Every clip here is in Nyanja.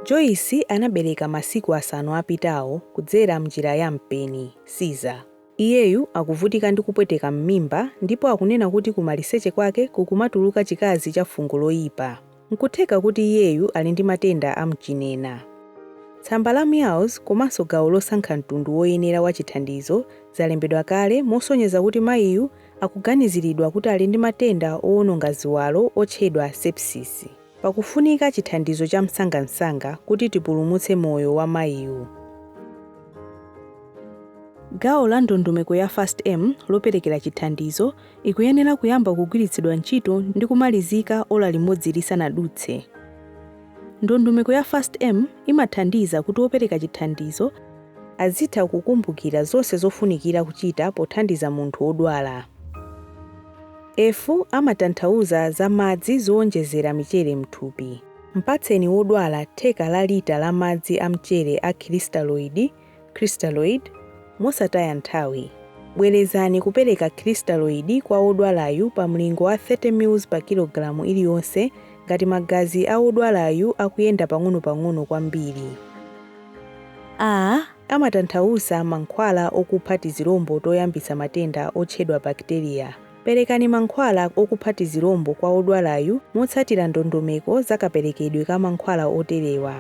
Joyce anabereka masiku asanu apitawo kudzera mnjira ya mpeni, Caesar. Iyeyu akuvutika ndi kupweteka mmimba ndipo akunena kuti kumaliseche kwake kukumatuluka chikazi cha fungo loyipa. N'kutheka kuti iyeyu ali ndi matenda a mchinena. Tsamba la meows komanso gawo losankha mtundu woyenera wa chithandizo zalembedwa kale mosonyeza kuti mayiyu akuganiziridwa kuti ali ndi matenda owononga ziwalo otchedwa sepsis. Pakufunika chithandizo chamsangamsanga kuti tipulumutse moyo wa mayiyu. Gawo la ndondomeko ya FAST-M loperekera chithandizo ikuyenera kuyamba kugwiritsidwa ntchito ndi kumalizika ola limodzi lisanadutse. Ndondomeko ya FAST-M imathandiza kuti opereka chithandizo azitha kukumbukira zonse zofunikira kuchita pothandiza munthu wodwala. F. Amatanthauza za madzi zowonjezera michere m'thupi. Mpatseni wodwala theka la lita la madzi a mchere a crystalloid crystalloid, mosataya nthawi, bwerezani kupereka crystalloid kwa wodwalayu pa mlingo wa 30 mls pa kilogalamu iliyonse ngati magazi a wodwalayu akuyenda pang'onopang'ono kwambiri. a Amatanthauza mankhwala okupha tizilombo toyambitsa matenda otchedwa bakiteriya. Perekani mankhwala okupha tizilombo kwa wodwalayu motsatira ndondomeko za kaperekedwe ka mankhwala oterewa.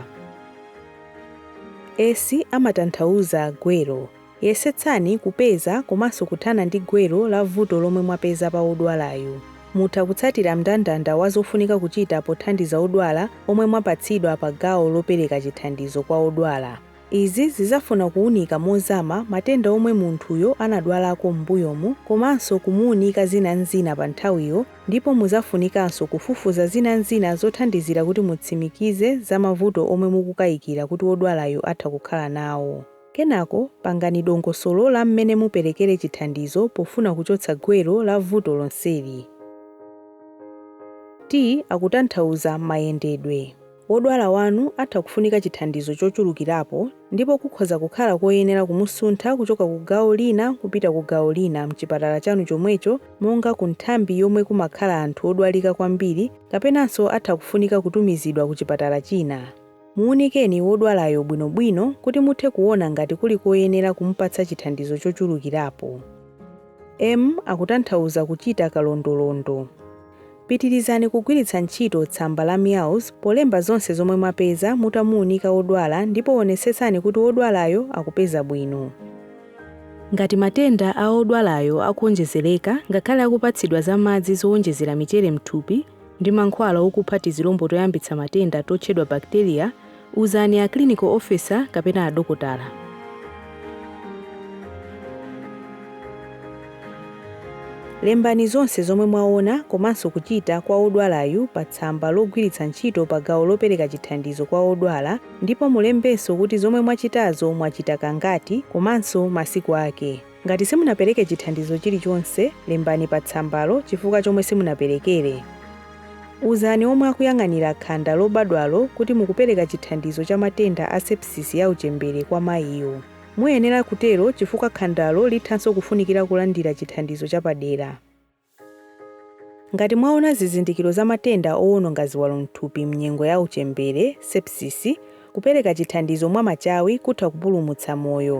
S amatanthauza gwero. Yesetsani kupeza komanso kuthana ndi gwero la vuto lomwe mwapeza pa wodwalayu. Mutha kutsatira mndandanda wa zofunika kuchita pothandiza odwala omwe mwapatsidwa pa gawo lopereka chithandizo kwa odwala. Izi zizafuna kuunika mozama matenda omwe munthuyo anadwalako m'mbuyomu komanso kumuunika zina n'zina pa nthawiyo ndipo muzafunikanso kufufuza zina n'zina zothandizira kuti mutsimikize za mavuto omwe mukukayikira kuti wodwalayo atha kukhala nawo. Kenako pangani dongosolo la mmene muperekere chithandizo pofuna kuchotsa gwero la vuto lonseli. T akutanthauza mayendedwe. Wodwala wanu atha kufunika chithandizo chochulukirapo ndipo kukhoza kukhala koyenera kumusuntha kuchoka ku gawo lina kupita ku gawo lina m'chipatala chanu chomwecho monga ku nthambi yomwe kumakhala anthu odwalika kwambiri kapenanso atha kufunika kutumizidwa ku chipatala china. Muunikeni wodwalayo bwinobwino kuti muthe kuona ngati kuli koyenera kumupatsa chithandizo chochulukirapo. M akutanthauza kuchita kalondolondo. Pitirizani kugwiritsa ntchito tsamba la MEOWS polemba zonse zomwe mwapeza mutamuunika wodwala ndipo wonetsetsani kuti wodwalayo akupeza bwino. Ngati matenda a wodwalayo akuwonjezereka ngakhale akupatsidwa za madzi zowonjezera michere m'thupi ndi mankhwala okupha tizilombo toyambitsa matenda totchedwa bacteria, Uzani a clinical officer kapena adokotala. Lembani zonse zomwe mwaona komanso kuchita kwa wodwalayu pa tsamba logwiritsa ntchito pa gawo lopereka chithandizo kwa wodwala ndipo mulembenso kuti zomwe mwachitazo mwachita kangati komanso masiku ake. Ngati simunapereke chithandizo chilichonse, lembani pa tsambalo chifukwa chomwe simunaperekere. Uzani omwe akuyang'anira khanda lobadwalo kuti mukupereka chithandizo cha matenda a sepsisi ya uchembere kwa mayiyo. Muyenera kutero chifukwa khandalo lithanso kufunikira kulandira chithandizo chapadera. Ngati mwaona zizindikiro za matenda owononga ziwalo m'thupi m'nyengo ya uchembere, sepsis, kupereka chithandizo mwa machawi kutha kupulumutsa moyo.